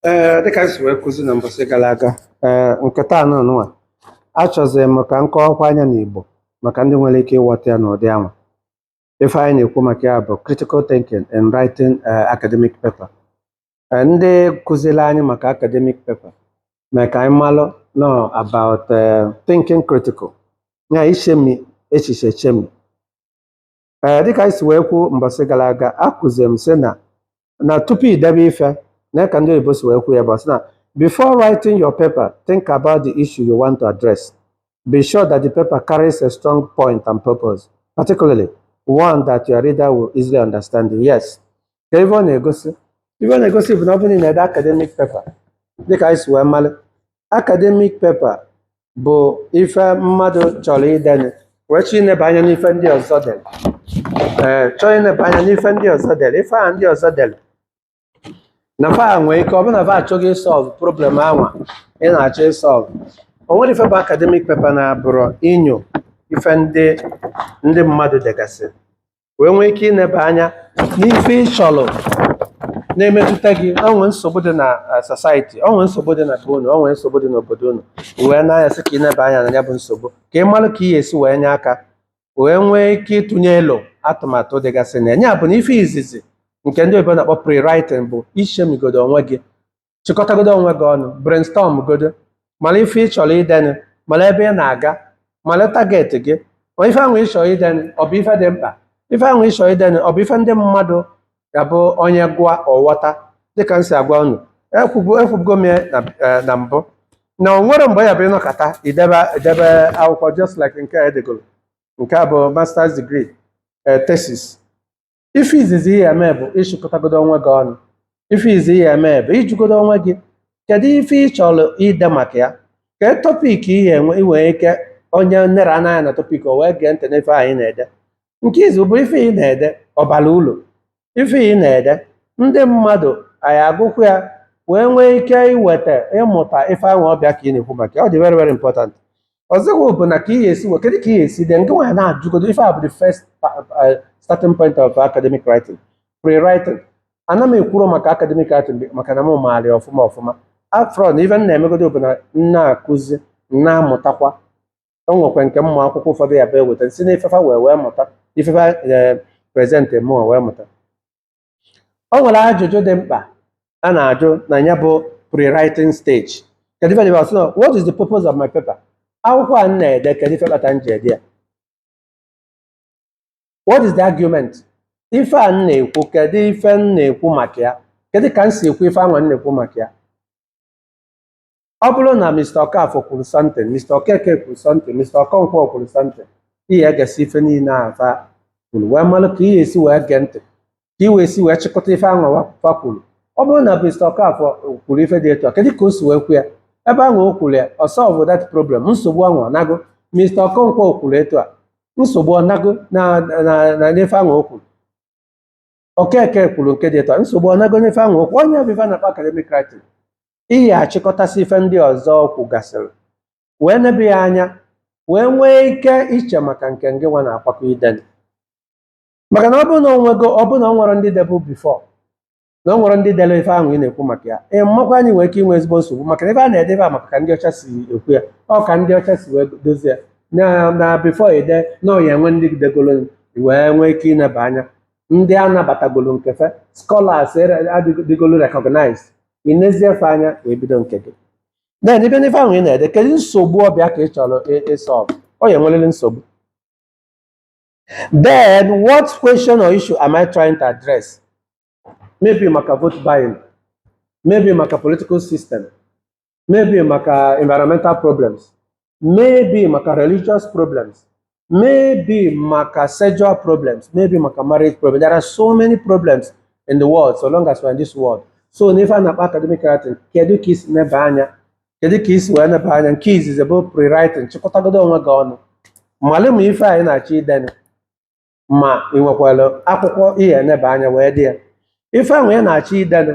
ee eh, dịka m si wee kụzi na mbọsị gara aga ee eh, nke taa nụnwa achọziri m ka m kọwakwa anya n'Igbo maka ndị nwere ike ịghọta ya n'ụdị anwa ife anyị na-ekwu maka ya bụ critical thinking and writing eh, academic paper ndị kụziri anyị maka academic paper mee ka anyị malụ nọ about thinking critical ya ichemi echiche chemi ee eh, dịka anyị si wee kwuo mbọsị gara aga akụziri m sị na na tupu i debe ife na ka ndị oyibo si wee kwuo ya bụ sị na before writing your paper think about the issue you want to address be sure that the paper carries a strong point and purpose particularly one that your reader will easily understand yes ka ife ọ na-egosi ife ọ na-egosi bụ na ọ bụrụ na ị na-ede academic paper dịka anyị si wee malụ academic paper bụ ife mmadụ chọrọ idenụ wee chọọ ineba anya n'ife ndị ọzọ dere ee chọọ ineba anya n'ife ndị ọzọ dere ife ahụ ndị ọzọ dere na fa nwee ike ọ bụrụ na fa achọghị ịsolve problem anwa ị na-achọ ịsolve o nwere ife bụ academic paper na-abụrụ inyo ife ndị ndị mmadụ degasị wee nwee ike ịneba anya n'ife ị chọrọ na-emetụta gị o nwee nsogbu dị na eh, society o nwee nsogbu dị na be unu o nwee nsogbu dị n'obodo unu i wee na-anya sị ka ị neba anya na ya bụ nsogbu ka ị mara ka ị ga-esi wee nye aka wee nwee ike ịtụnye elo atụmatụ dịgasị na ya ya bụ na ife izizi nke ndị oyibo na-akpọ pre-writing bụ ichemigodo onwe gị chịkọtagodo onwe gị ọnụ brainstorm godo mara ife ị chọrọ idenụ mara ebe ị na-aga mara target gị ma ife ahụ ị chọrọ idenụ ọ bụ ife dị mkpa ife ahụ ị chọrọ idenụ ọ bụ ife ndị mmadụ ga-abụ onye gụọ ọ ghọta dịka m si agwa unu ekwubu ekwubugo m ya na eh, na mbụ na o nwere mgbe ya bụ ị nọkata i debe i debe akwụkwọ just like nke a edegoro nke a bụ masters degree eh, thesis ife izizi ị ga-eme bụ ịchịkọtagodo onwe gị ọnụ ife izizi ị ga-eme bụ ịjụgodo onwe gị kedu ife ị chọrọ ide maka ya ka topic ị ga-enwe nwee ike onye nlere anya na topic o wee gee ntị n'ife a ị na-ede nke ịbụọ bụ ife ị na-ede ọ bara uru ife ị na-ede ndị mmadụ a ga-agụkwu ya wee nwee ike iweta ịmụta ife ahụ ọ bụ ya ka ị na-ekwu maka ya ọ dị very very important ọzọkwa bụ na ka ị ga-esi kedu ka ị ga-esi dee nke nwa anyị na-ajụgodo ife a bụ the first uh, starting point of academic writing pre-writing ana m ekwuro maka academic writing maka na m maara ya ọfụma ọfụma after all na ife m na-emegodo bụ na m na-akụzi m na-amụtakwa o nwekwa nke ụmụ akwụkwọ ụfọdụ ya bụ eweta si na ife fa wee wee mụta ife fa present mụ wee mụta o nwere ajụjụ dị mkpa a na-ajụ na ya bụ pre-writing stage kedu ife dịba sịnọ what is the purpose of my paper akwụkwọ a m na-ede kedu ife kpata m ji ede ya what is the argument ife a m na-ekwu kedu ife m na-ekwu maka ya kedu ka m si ekwu ife anwa m na-ekwu maka ya ọ bụrụ na Mr. Okafor kwuru something Mr. Okeke kwuru something Mr. Okonkwo kwuru something ị ya egesị ife niile ahụ fa kwuru wee malụ ka ị ya esi wee gee ntị ka ị ya esi wee chịkọta ife ahụ wa- fa kwuru ọ bụrụ na Mr. Okafor kwuru ife dị etu a kedu ka o si wee kwu ya ebe ahụ o kwuru ya ọ solve that problem nsogbu ahụ ọ nago Mr. Okonkwo kwuru etu a nsogbu ọ nago na na na n'ife ahụ o kwuru Okeke kwuru nke dị etu a nsogbu ọ nago n'ife anwa o kwuru ọ nya bụ ife a na-akpọ academic writing ị ya achịkọtasị ife ndị ọzọ kwugasịrị wee nebe ya anya wee nwee ike iche maka nke ngị nwa na-akwakọ idene maka na ọ bụrụ na o nwego ọ bụrụ na o nwerọ ndị debu before na o nwerọ ndị dere ife ahụ ị na-ekwu maka ya ị makwa na ị nwere ike inwe ezigbo nsogbu maka na ife a na-edebe a maka ka ndị ọcha si ekwu ya ọ ka ndị ọcha si wee dozie ya na na before e dee na ọ ya enwe ndị degolu wee nwee ike ineba anya ndị a nabatagolu nke fa scholars ere- adịgo- dịgolu recognized ị nezie fa anya wee bido nke gị then ị bịa n'ife ahụ ị na-ede kedu nsogbu ọ bụ ya ka ị chọrọ ị- ịsolve ọ ya enwerịrị nsogbu then what question or issue am I trying to address maybe maka vote buying maybe maka political system maybe maka environmental problems maybe maka religious problems maybe maka sexual problems maybe maka marriage problems there are so many problems in the world so long as we're in this world so n'ife a na-akpọ academic writing kedu ka i si neba anya kedu ka i si wee neba anya nke izizi bụ pre-writing chịkọtagodo onwe gị ọnụ malụ ma ife a ị na-achọ idene ma ị nwekwara akwụkwọ ị ya eneba anya wee dee ya ife ahụ ị na-achọ idene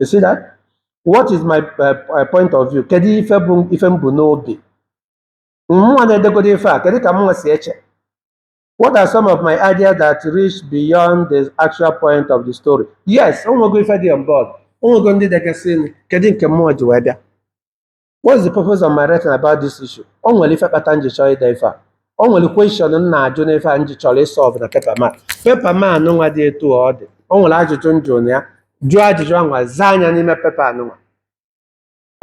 you see that what is my uh, uh, point of view kedu ife m bu n'obi mụnwa na-edegodo ife a kedu ka mụnwa si eche what are some of my ideas that reach beyond the actual point of the story yes o nwego ife dị on board o nwego ndị degasịnụ kedu nke mụnwa ji wee bịa what's the purpose of my writing about this issue o nwere ife kpata m ji chọọ ide ife a o nwere question m na-ajụ n'ife a m ji chọrọ ịsọlve na paper m a paper m anụnwa dị etu ọ dị o nwere ajụjụ m jụrụ na ya jụọ ajụjụ anwa zaa ya n'ime paper anụnwa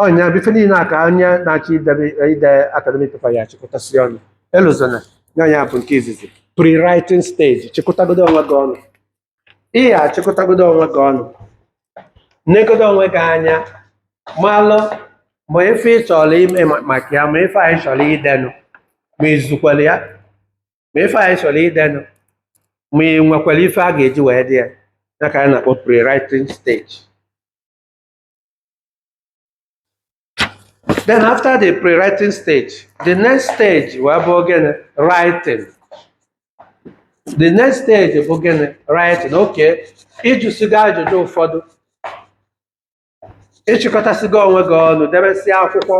ọ nya bụ ife niile a ka onye na-achọ idebe ide academic paper ya achịkọtasị ọnụ elozona na ya bụ nke izizi pre-writing stage chịkọtagodo onwe gị ọnụ ị ga-achịkọtagodo onwe gị ọnụ negodo onwe gị anya malụ ma ife ị chọrọ ime ma- maka ya ma ife anyị chọrọ idenụ ma i zukwere ya ma ife anyị chọrọ idenụ ma ị nwekwara ife a ga-eji wee dee ya ya ka anyị na-akpọ pre-writing stage Then after the pre-writing stage, the next stage wee bụ gịnị? Writing. The next stage bụ gịnị? Writing. Okay. Ị jụsịgo ajụjụ ụfọdụ. Ị chịkọtasịgo onwe gị ọnụ, debesịa akwụkwọ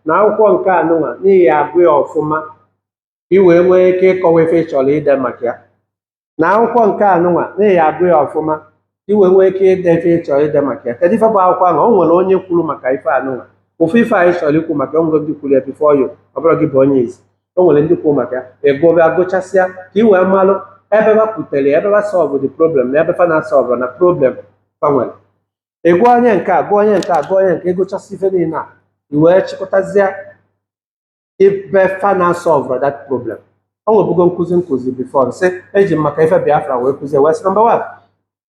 na akwụkwọ nke anụnwa na ị ya-agụ ya ọfụma. i wee nwee ike ịkọwa ife ị chọrọ ide maka ya na akwụkwọ nke a nụnwa na ị ya-agụ ya ọfụma i wee nwee ike ide ife ị chọrọ ide maka ya kedu ife bụ akwụkwọ ahụ o nwere onye kwuru maka ife a nụnwa ofu ife anyị chọrọ ikwu maka o nwee ndị kwuru ya before you ọ bụrọ gị bụ onye izizi o nwere ndị kwuru maka ya ị ga-abịa gụchasịa ka i wee malụ ebe ha pụtara ya, ebe ha solve the problem na ebe fa na-asọlvụ na problem fa nwere ị gụọ onye nke a gụọ onye nke a gụọ onye nke ị gụchasịa ife niile a i wee chịkọtazie ebe fa na-asọlvra that problem o nwebugo nkụzi m kụzi before m sị eji m maka ife biafra wee kụzie wee sị number one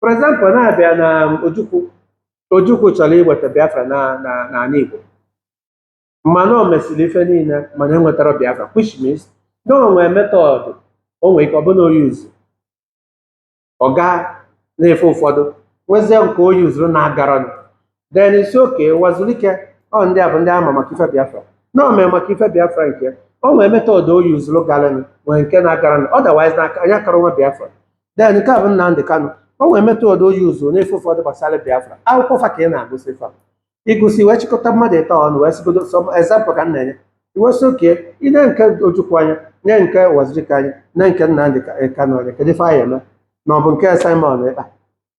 for example na a bịa na ojukwu ojukwu chọrọ iweta biafra na na n'anị igbo mana o mesịrị ife niile mana enwetarọ biafra which means na o nwee method o nwee ike ọ bụ na o yuzu ọ gaa n'ife ụfọdụ nwezie nke o yuzuru na-agarọ nụ then ị sị okay uwazuruike ọ ndị a bụ ndị a ma maka ife biafra na o mee maka ife biafra nke ya. o nwee method o yuzuru galanụ nwee nke na-agarọ nụ otherwise na anyị akara nwee biafra then nke a bụ nnamdi kanu o nwee method o yuzuru n'ife ụfọdụ gbasara biafra akwụkwọ fa ka ị na-agụsị fa ị gụsịa wee chịkọta mmadụ ịtọ ọnụ wee sịgodo sọ example ka m na-enye i wee sị okay i nee nke ojukwu anya nee nke uwazuruike anya nee nke nnamdi Ka- kanu anya kedu ife anyị ya-eme ma ọ bụ nke simon ekpa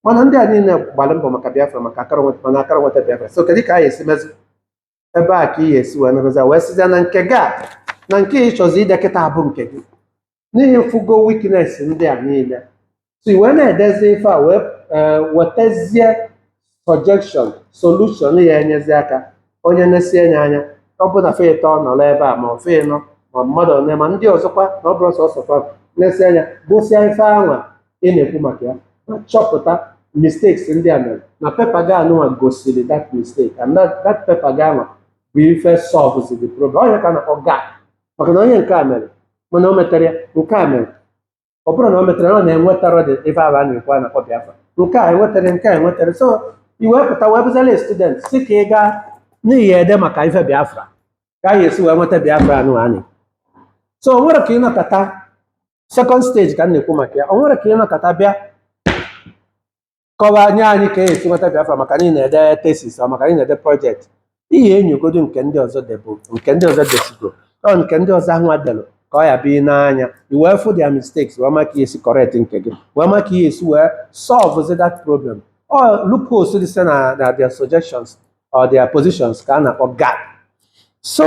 mana ndị a niile gbara mbọ maka biafra maka akara nweta mana akara nweta biafra so kedu ka anyị ya-esi mezi ebe a ka ị ga-esi wee mebezi wee sizie na nke gị a na nke ị chọzi ide kịta a bụ nke gị na ị fụgo weakness ndị a niile so i wee na-edezi ife a wee ee, wetezie suggestion solution ya-enyezi aka onye na-esi enye anya ọ bụ na fa ịtọ nọrọ ebe a ma ọ fa ịnọ ma mmadụ one ma ndị ọzọkwa na ọ bụrọ sọsọ fa nesie anya gụsịa ife anwa ị na-ekwu maka ya ma chọpụta mistakes ndị a mere na paper gị anụnwa gosiri that mistake and that, that paper gị anwa bụ ife solves the problem ọ ya ka a na-akpọ gap maka na onye nke a mere mana o metero ya nke a mere ọ bụrụ na o metere ọ na-enwetara dị ife aba na-ekwu a na-akpọ Biafra nke a enwetere nke a enwetere so i wee pụta wee bụzala student si ka ị gaa n'ihu ede maka ife Biafra ka anyị esi wee nweta Biafra anụ anyị so o nwere ka ị nọkata second stage ka m na-ekwu maka ya o nwere ka ị nọkata bịa kọwaa nye anyị ka e si nweta Biafra maka na ị na-ede thesis or maka na ị na-ede project ị ya-enyogodo nke ndị ọzọ debụ nke ndị ọzọ desigo or nke ndị ọzọ ahụ delụ ka ọ ya-abụ ị nee anya i wee fụ their mistakes wee ma ka ị ya-esi correct nke gị wee ma ka ị ya-esi wee solve that problem ọ loopholes dị site na na their suggestions or their positions ka a na-akpọ gap so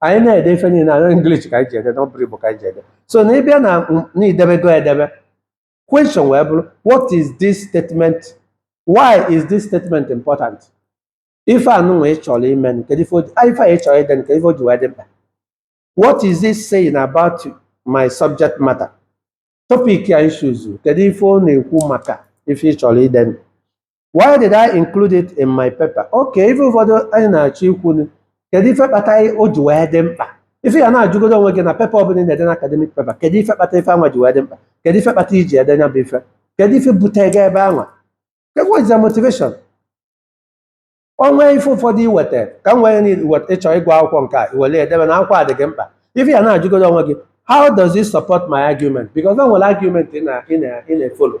anyị na-ede ife niile na English ka anyị ji ede na ọ bụrọ Igbo ka anyị ji ede so na ị bịa na na i debego edebe question wee bụrụ what is this statement why is this statement important ife anụnwa ị chọrọ ime kedu ife o ji- ah, ife a ị chọrọ ide nke ife o ji wee dị mkpa what is this saying about my subject matter topic anyị chụzuru kedu ife ọ na-ekwu maka ife ị chọrọ ide why did I include it in my paper okay ife ụfọdụ anyị na-achọ ikwu ni kedu ife kpata anyị o ji wee dị mkpa ife ị ya na-ajụgodo onwe gị na paper ọbụla ị na-ede na academic paper kedu ife kpata ife anwa ji wee dị mkpa kedu ife kpata i ji ede nya bụ ife kedu ife bute gị ebe anwa what is the motivation o nwee ife ụfọdụ i weta ka m wee need wet- ịchọ ịgụ akwụkwọ nke a i were ya debe na akwụkwọ a dị gị mkpa ife ị ya na-ajụgodo onwe gị how does it support my argument because o nwere argument ị na- ị na- ị na-efollow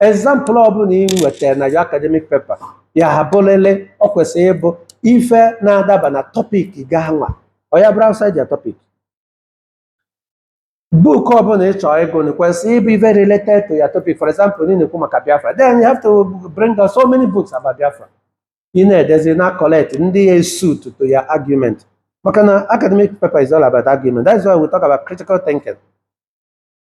example ọbụla i wetara na your academic paper ya-abụrịrị ọ kwesịrị ịbụ ife na-adaba na topic gị anwa ọ ya-abụrọ outside your topic book ọbụla ị chọrọ ịgụ na kwesịrị ịbụ ife related to your topic for example ị na-ekwu maka Biafra then you have to bring out so many books about Biafra ị na-edezi na collect ndị ya suit to your argument maka na academic paper is all about argument that's why we talk about critical thinking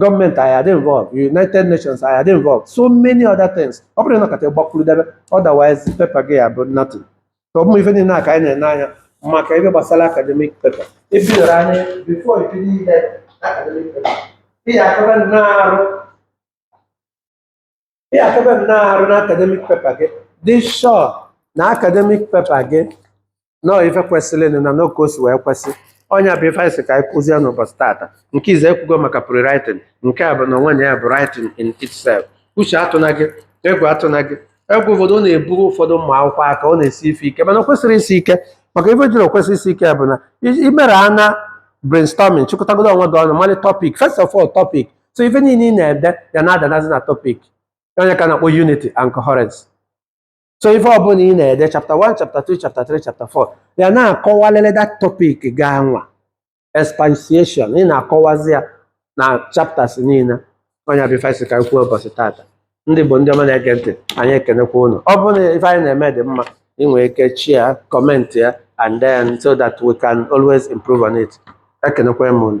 government ya-adị involved United Nations ya-adị involved so many other things ọ bụrọ na ị nọkata gbakwuru debe otherwise paper gị ya-abụ nothing so ụmụ ife niile a ka anyị na-ene anya maka ebe gbasara academic paper ebidoro anyị before ibido ide academic paper ị ya-akaba nnọọ arụ ị ya-akaba nnọọ arụ na academic paper gị dị sure na academic paper gị nọọ ife kwesịrị na n'oke o si wee kwesị ọ nya bụ ife anyị si ka anyị kụzie n'ụbọchị tata nke izizi e kwugo maka pre-writing nke a bụ na onwe na ya bụ writing in itself ụjọ atụna gị egwu atụna gị egwu ụfọdụ ọ na-abụrụ ụfọdụ ụmụ akwụkwọ a ka ọ na-esi ife ike mana o kwesịrọ isi ike maka ife jirọ kwesị isi ike bụ na i- i mere ana brainstorming chịkọtagodo onwe gị ọnụ mali topic first of all topic so ife niile ị na-ede ya na-adanazi na topic ọ nya ka a na-akpọ unity and coherence so ife ọbụla ị na-ede chapter 1 chapter 2 chapter 3 chapter 4 ya na-akọwalele that topic gị anwa expansion ị na-akọwazi ya na chapters niile ọ nya bụ ife anyị ka kwuo ụbọchị tata ndị bụ ndị ọma na-ege ntị anyị ekenekwa ụnụ ọ bụrụ na ife anyị na-eme dị mma ị nwere ike share comment ya and then so that we can always improve on it ekenekwa m ụnụ